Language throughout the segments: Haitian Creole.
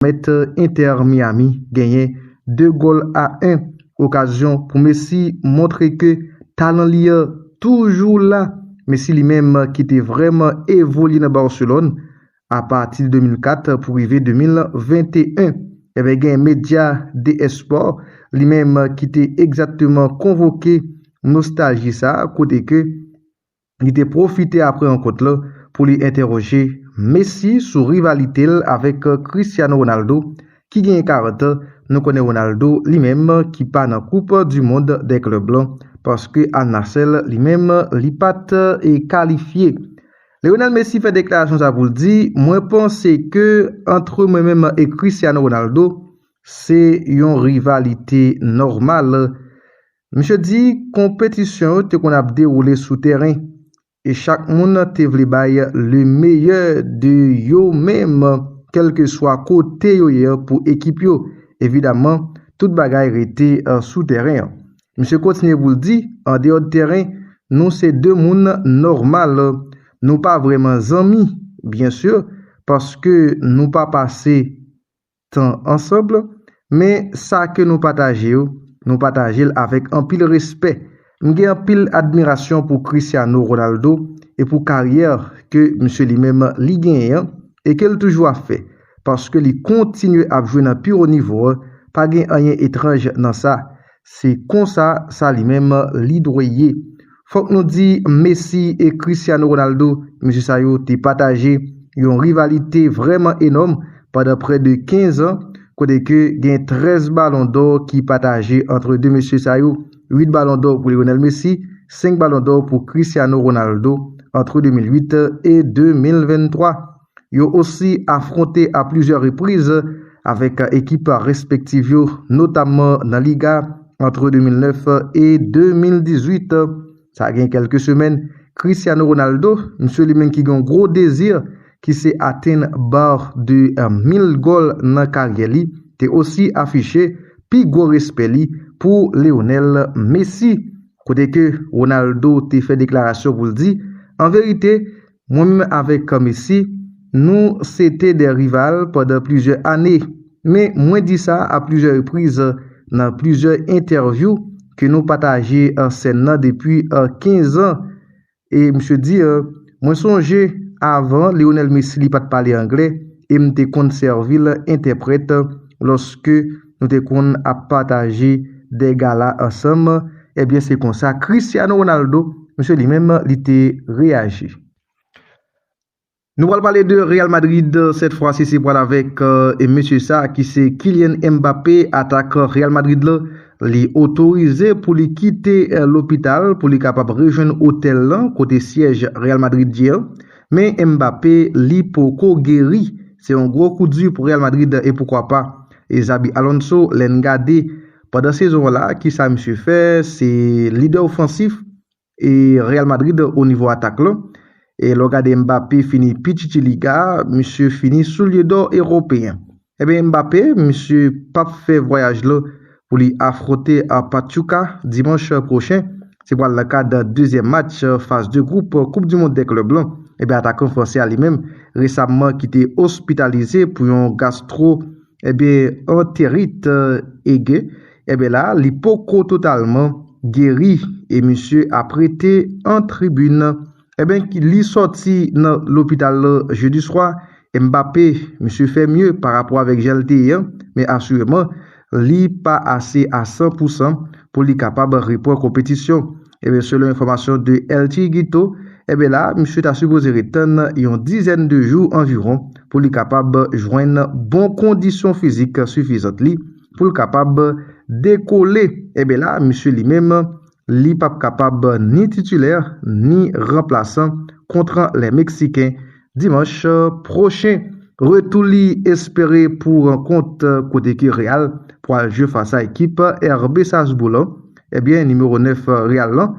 pèmèt Inter Miami genyen 2 gòl a 1, okazyon pou Messi montre ke talan li an toujou la, Messi li menm ki te vrèman evolye nan Barcelone apati 2004 pou rive 2021. Enben gen medya The Sport li menm ki te egzakteman konvoke nostalji sa kote ke. Li te pwofite apre rankont la pou li entèwoje Messi sou rivalite l avèk Cristiano Ronaldo ki genyen 40 an, nou konnen Ronaldo li menm ki pa nan koup du mond dè klèb lan paske Al Nassr li menm li pat kalifye. Lionel Messi fè deklarasyon sa pou l di mwen panse ke antre mwen menm e Cristiano Ronaldo se yon rivalite nòmal Misye di konpetisyon yo te konn ap dewoule sou tèren e chak moun te vle bay le meyè de yo menm kèlkeswa kote yo ye pou ekip yo. Evidaman, tout bagay rete sou tèren an. Misye kontinye pou l di, andeyò de tèren, nou se de moun nòmal. Nou pa vrèman zanmi, byen sur, paske nou pa pase. tan ansanb, men sa ke nou pataje yo, nou pataje l avèk anpil respè. M gen anpil admirasyon pou Cristiano Ronaldo e pou karyè ke misye li menm li genyen an e ke l toujou ap fè, paske li kontinye ap jwe nan pi wo nivo an, pa gen anyen etranj nan sa, Se konsa sa li menm li dwe ye. Fòk nou di Messi e Cristiano Ronaldo, mesye sa yo te pataje yon rivalite vrèman enòm pandan prè de 15 an, kote ke gen 13 balon dò ki pataje antre 2 mesye sa yo, 8 balon dò pou Lionel Messi, 5 balon dò pou Cristiano Ronaldo antre 2008 e 2023. Yo osi afwonte a plizyè repriz avèk ekip respektiv yo notamman nan Liga antre 2009 e 2018. Sa gen kèlke semèn, Cristiano Ronaldo, msye li menm ki gen yon gwo dezi ki se atenn bar de mil gòl nan karyè li, te osi afiche pi gwo respè li pou Lionel Messi. Kote ke Ronaldo te fè deklarasyon pou l di, An verite, Mwen menm avèk Carmesy, nou se te 2 rival pandan plizyè ane. Men mwen di sa a plizyè repriz nan plizyè entèvyou ke nou pataje sèn nan depi 15 an. E misye di, Mwen sonje avan Lionel Messi li pa t pale anglè e m te konn sèvi l entèprèt lòske Nou te konn ap pataje de gala ansanm, ebyen se konsa Cristiano Ronaldo, misye li menm li te reyaji. Nou pral pale de Real Madrid, sèt fwa si se pral avèk mesye sa ki se Kylian Mbappé, atakan Real Madrid la, li otorize pou li kite lopital pou li kapab rejwenn otèl lan kote syèj Real Madrid ye an, men Mbappé li poko geri, se yon gwo kou di pou Real Madrid e poukwa pa. E Xabi Alonso lè n gade pandan sezon an la kisa misye fè se lidè ofansif e Real Madrid o nivo atak lan e lè w gade Mbappé fini pi chichi liga misye fini soulye dò eropeyen enben Mbappé misye pap fè vwayaj lan pou li afronte Pachuca dimanch pwochen Se pral nan kad dezyèm match faz de gwoup koup du mond dè klèb lan e ben atakan fransè a li menm resamman ki te ospitalize pou yon gastro e ben anterit e ge e ben la li poko totalman geri e misye ap rete an tribin. Enben li sòti nan lopital lan jedi swa, Mbappé, misye fè mye pa rapò avèk jan l te ye an, men asireman li pa ase a 100 pou 100 pou li kapab repran konpetisyon. Enben selon enfòmasyon de El Chiringuito, enben la misye ta sipoze ret tann yon dizèn de jou anviwon pou li kapab jwenn bon kondisyon fizik sifizant li pou l kapab dekole. Enben la misye li menm li pap kapab ni titulè ni ranplasan kontra lè Meksiken dimanch pwochen. Retou li espere pou rankont kote ke Real pwal jwe fas a ekip RB Salzbourg lan, ebyen nimewo 9 Real lan,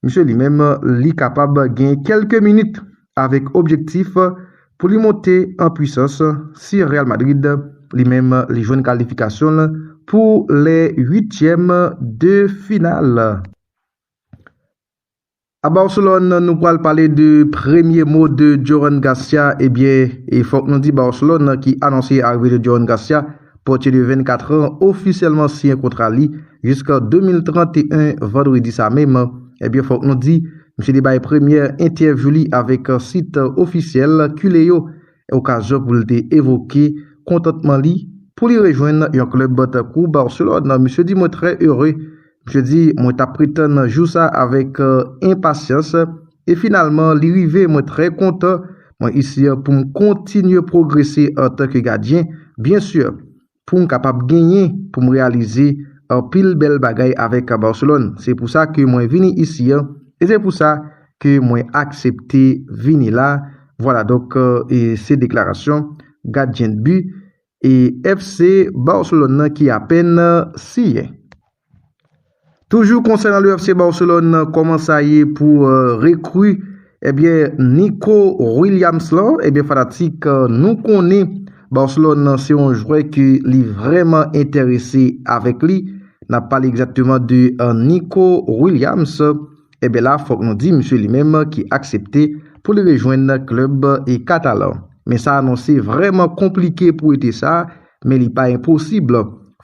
misye li menm li kapab gen kelke minit avèk objektif pou li monte an pwisans si Real Madrid li menm li jwenn kalifikasyon l pou lè uityèm de final. A Barcelone nou pral pale de premye mo de Joran Garcia ebyen e fòk nou di Barcelone ki anonse arive de Joran Garcia pòtye de 24 an ofisyèlman siyen kontra li jiska 2031 vandredi sa menm ebyen fòk nou di Misye te bay premyè entèvyou li avèk sit ofisyèl Kile yo, okazyon pou l te evoke kontantman li pou li rejwenn yon klèb tankou Barcelone. Misye di mwen trè ere. Misye di mwen t ap pretann jou sa avèk enpasyans e finalman li rive mwen trè kontan. Mwen isi pou m kontinye pwogrese antanke gadyen byen sur. pou m kapab genyen pou m reyalize anpil bèl bagay avèk Barcelone. Se pou sa ke mwen vini isi an, e se pou sa ke mwen aksepte vini la, vwala donk e se deklarasyon gadyen de bi e FC Barcelone nan ki apèn siyen. Toujou konsènan le FC Barcelone, kòman sa ye pou rekri ebyen eh Nico Williams lan, ebyen eh fanatik nou konnen Barcelone nan se yon jwè ke li vrèman enterese avèk li, nan pale egzakteman de eh, Nico Williams, ebyen eh la fòk nou di misye li menm ki aksepte pou li rejwenn klèb eh katalan. Men sa anonse vrèman konplike pou ete sa. men li pa enposib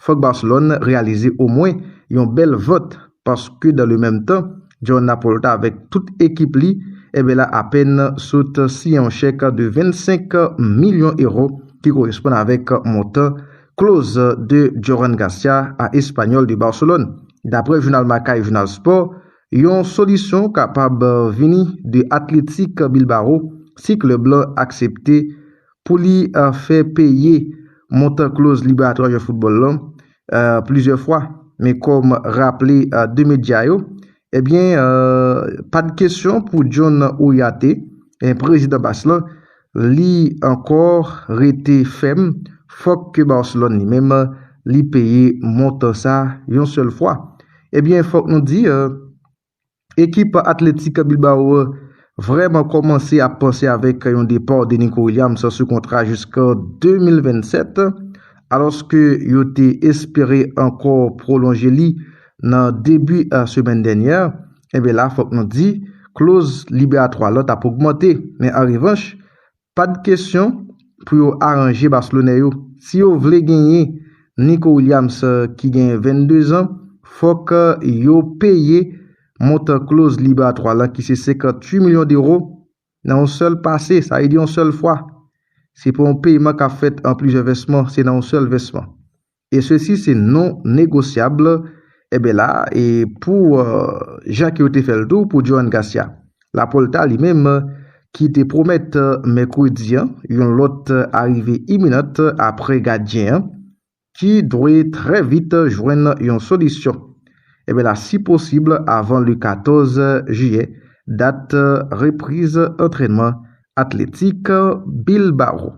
fòk Barcelone reyalize omwen yon bèl vant paske dan le menm tan Joan Laporta avèk tout ekip li enben la apèn sot siyen yon chèk de 25 milyon ewo ki koresponn avèk montan kloz de Joran Garcia a Espanyòl de Barcelone. Daprè jounal Marca e jounal Sport, yon solisyon kapab vini de Athletic Bilbao si klèb la aksepte Pou li fè peye montan kloz liberatwa jwè foutbòl lan plizyè fwa, men kòm raple 2 medya yo, ebyen pa t kesyon pou John Ouyate, prezidan Bas lan, li ankò rete fèm fòk ke Barcelone li menm li peye montan sa yon sèl fwa. Ebyen fòk nou di. Ekip Athletic Bilbao an vrèman kòmanse ap panse avèk yon depa de Nico Williams sou kontra jiskan 2027, alòske yo te espere ankò pwolonje li nan debi semèn dènyè. Enben la fòk nou di kloz liberatwa lan t ap ogmante, men an revanch Pad kesyon pou yo aranje baslonè yo si yo vle genyen Nico Williams ki genyen 22 zan fòk yo peye montan kloz libratwa lan ki se 58 milyon dewo nan yon sèl pase sa vle di yon sèl fwa se pa yon peyman kap fèt an plizyè vèsman se nan yon sèl vèsman. e sesi se non negosyab enben la e pou jan ke yo te fèl tou pou Joan Garcia Lapolta li menm ki te pwomèt mèkredi an yon lòt arive iminant apre gadyen an ki dwe trè vit jwenn yon solisyon enben la si posib avan le 14 jiyè dat repriz antrènman atletik Bilbao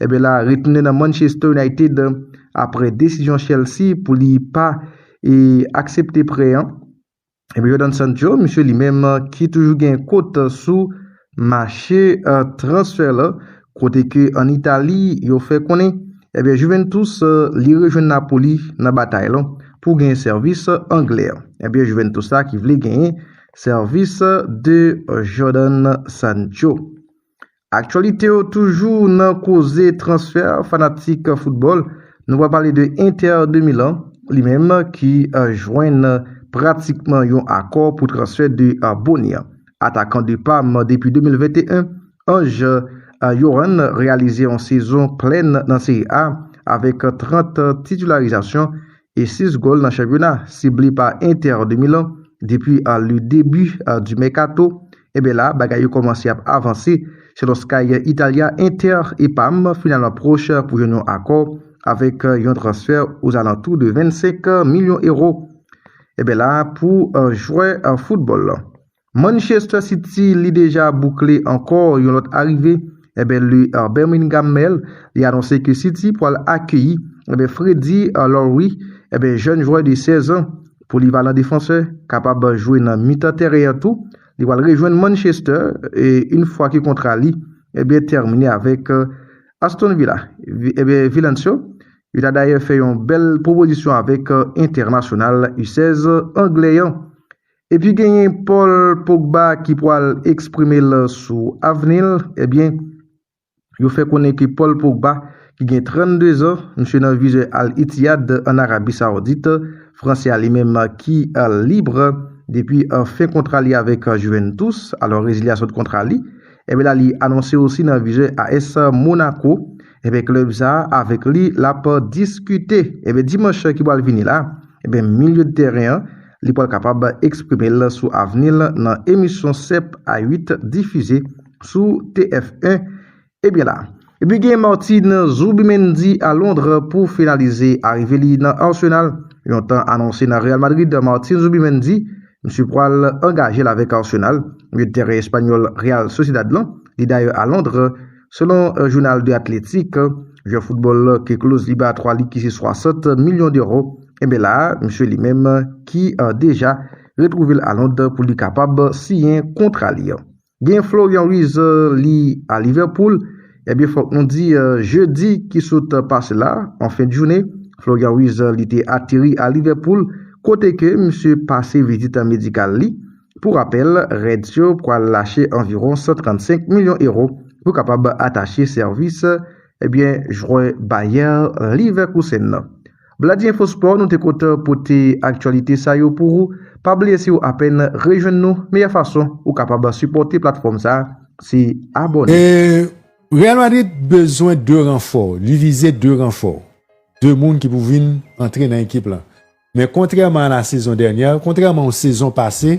Enben la retounen nan Manchester United apre desizyon Chelsea pou li pa e aksepte prè an. Enben Jadon Sancho, misye li menm ki toujou gen kot sou mache transfè la, kote ke an Itali yo fè konnen enben Juventus li rejwenn Napoli nan batay la pou genyen sèvis anglè an. Enben Juventus la ki vle genyen sèvis de Jadon Sancho. Aktyalite yo toujou nan koze transfè fanatik foutbòl, nou pral pale de Inter de Milan, li menm ki jwenn pratikman yon akò pou transfè de Bony, atakan de Parm depi 2021. Ange Yoann reyalize yon sezon plèn nan Serie A avèk 30 titularizasyon e 6 gòl nan chanpyona, sible pa Inter de Milan depi le debi du mercato. Enben la, bagay yo kòmanse ap avanse, selon Sky Italia Inter epam finalman pwoch pou jwenn yon akò avèk yon transfè ozalantou de 25 milyon ewo enben la pou jwè foutbòl Manchester City li deja boukle ankò yon lòt arive enben le Birmingham Mail li anonse ke City pwal akeyi enben Freddie Lowry enben jèn jwè de 16 an Polivalan defansè, kapab jwe nan mitan tèren an tou, li pral rejwenn Manchester yn fwa ke kontra li ebyen tèmine avèk Aston Villa. Ebyen Villans yo, yo ta dayè fè yon bèl pwopozisyon avèk entènasyonal u 16 anglè an. Epi genyen Paul Pogba ki pwal eksprime l sou avni l, ebyen Yo fè konnen ke Paul Pogba ki gen 32 zan, misye nan vizè Al Ittihad an Arabi Saoudit, fransè a li menm ki lib depi fen kontra li avèk Juventus, alò rezilyasyon kontra li, enben la li anonse osi nan vizè AS Monaco, enben klèb sa a avèk li l ap diskite, enben dimanch ki pral vini la, enben milye de tèren an li pral kapab eksprime l sou avni l nan emisyon 7 a 8 difize. sou TF 1 e byen la. Epi gen Martin Zubimendi a Londre pou finalize arive li nan Arsenal. Yon tan anonse nan Real Madrid, Martin Zubimendi, misye pwal angajel avèk Arsenal, milye de tèren espanyòl Real Sociedad lan, li dayè a Londre, selon jounal The Athletic, jwè foutbòl ke kloz li ba 3 lig ki se 60 milyon dero, e byen la misye li menm ki deja retwouvel a Lond pou li kapab siyen kontra li. Gen Florian Wirtz li a Liverpool, ebyen fòk nou di jedi ki sot pase la, an fen de joune, Florian Wirtz li te ateri a Liverpool kote ke misye pase vizit medikal li. Pou rapèl, Reds yo pwal lache anviwon 135 milyon euro pou kapab atache sèvis ebyen jwè Bayer Leverkusen nan. Bladi Info Sport nou te kontan pote aktyalite sa yo pou ou, pa bliye si ou apèn rejwenn nou meyè fason ou kapab sipòte platfòm sa se abòne. Real Madrid bezwen 2 ranfò, li vize 2 ranfò, 2 moun ki pou vin antre nan ekip lan, men kontrèman a la sezon dènyè, kontrèman ou sezon pase,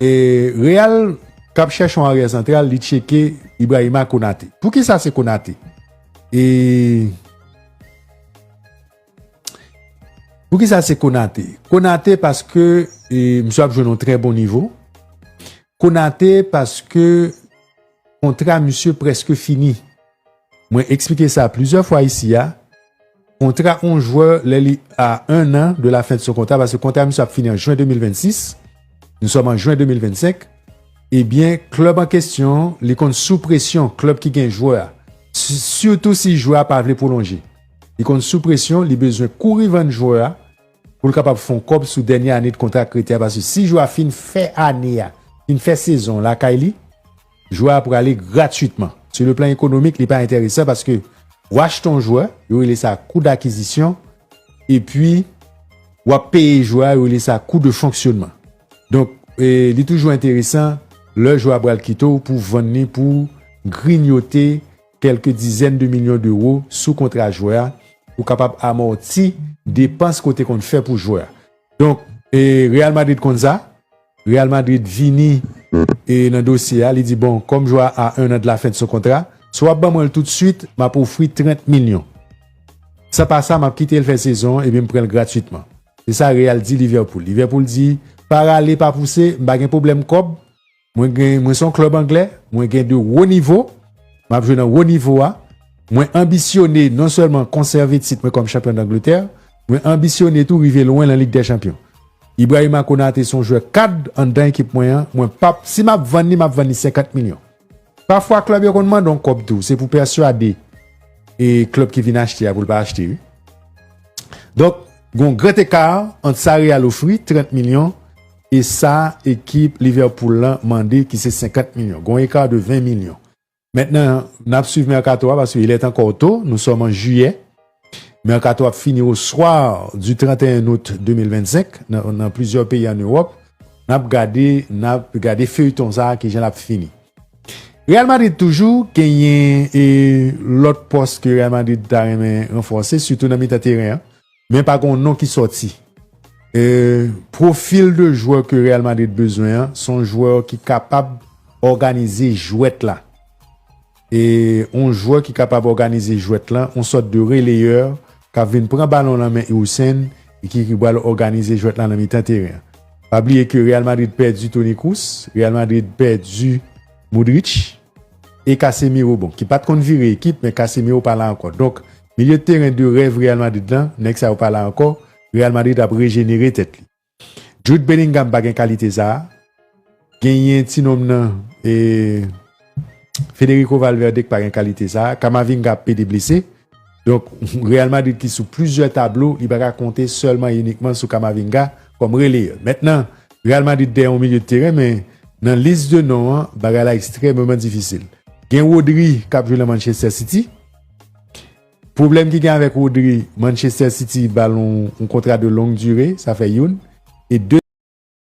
Real kap chèche yon aryè santral li tcheke Ibrahima Konate. Poukisa se Konate? E Poukisa se Konate? Konate paske e, msye ap jwenn yon trè bon nivo. Konate paske kontra msye preske fini. Mwen eksplike sa plizyè fwa isi a, kontra on jwè lè li a 1 an de la fen de son kontra, paske kontra misye ap fini an jwen 2026, nou sòm an jwen 2025, ebyen klèb an kesyon li konn sou presyon, klèb ki gen jwè a, sitou si jwè a pa vle pwolonje, li konn sou presyon, li bezwen kouri vann jwè a pou l kapab fè on kòb sou dènye ane de kontra ak Kretè a, paske si jwè a fin fè ane a, fin fè sezon lakay li. Jwè a prale gratuitman. Sou le plan ekonomik li pa enteresan paske ou achte yon jwè, yo rele sa kou dakizisyon, epi ou ap peye jwè a, yo rele sa kou de fonksyonman. Donk li toujou enteresan lè jwè a pral kite w pou w vann li pou grinyote kèlke dizèn de milyon dewo sou kontra jwè a pou kapab amòti depans ke w te konn fè pou jwè a. Donk Real Madrid konn sa. Real Madrid vini nan dosye a, li di bon kòm jwè a a 1 an de la fen de son kontra, si wap ban mwen l tout swit, map ofri 30 milyon. San pa sa map kite l fè sezon an epi m pran l gratwitman. Se sa Real di Liverpool. Liverpool di, pa rale pa pouse, m pa gen pwoblèm kòb, mwen gen mwen se yon klèb anglè, mwen gen de wo nivo, map jwe nan wo nivo a, mwen anbisyone non sèlman konsève tit mwen kòm chanpyon Dangletè, Mwen anbisyone tou rive lwen lan Lig dè Chanpyon. Ibrahima Konate son jwè kad anndan ekip mwen an, mwen pap, si map vann li map vann li 50 milyon. Pafwa klèb yo konn mande yon kòb tou, se pou pèswade e klèb ki vin achte a pou l pa achte wi. Donk gon gran eka ant sa Real ofri, 30 milyon, e sa ekip Liverpool lan mande ki se 50 milyon. Gon eka de 20 milyon. Mentnan n ap swiv mèkato a paske il est encore tôt, nou sòm an jiyè. Mèkato ap fini au soir du 31 août 2025 nan plizyè peyi an Ewòp. N ap gade, n ap gade feuilleton sa kijan l ap fini. Real Madrid toujou genyen lòt pòs ke Real Madrid ta renmen ranfòse sitou nan mitan teren an. Men pa gen yon non ki sòti. Profil de jwè ke Real Madrid bezwen an, se yon jwè ki kapab òganize jwèt la. Yon jwè ki kapab òganize jwèt la, yon sòt de releyè k ap vin pran balon nan men Hussein e ki pral òganize jwèt la nan mitan teren an. Pa bliye ke Real Madrid pèdi Toni Kroos, Real Madrid pèdi Modric. e Casemiro bon ki pat konn vire ekip men Casemiro pa la ankò donk milye teren de rèv Real Madrid lan nèg sa yo pa la ankò Real Madrid ap rejenere tèt li Jude Bellingham pa gen kalite sa genyen ti nonm nan e Federico Valverde ki pa gen kalite sa Camavinga ap pede blese. Donk, Real Madrid ki sou plizyè tablo, li pa ka konte sèlman e inikman sou Camavinga kòm releyè. Mentnan, Real Madrid dèyè yon milye de teren men nan lis de non an, bagay la ekstrèmeman difisil. Gen Rodri k ap jwe nan Manchester City. Pwoblèm ki gen avèk Rodri, Manchester City ba l yon kontra de long dire, sa fè youn. E de.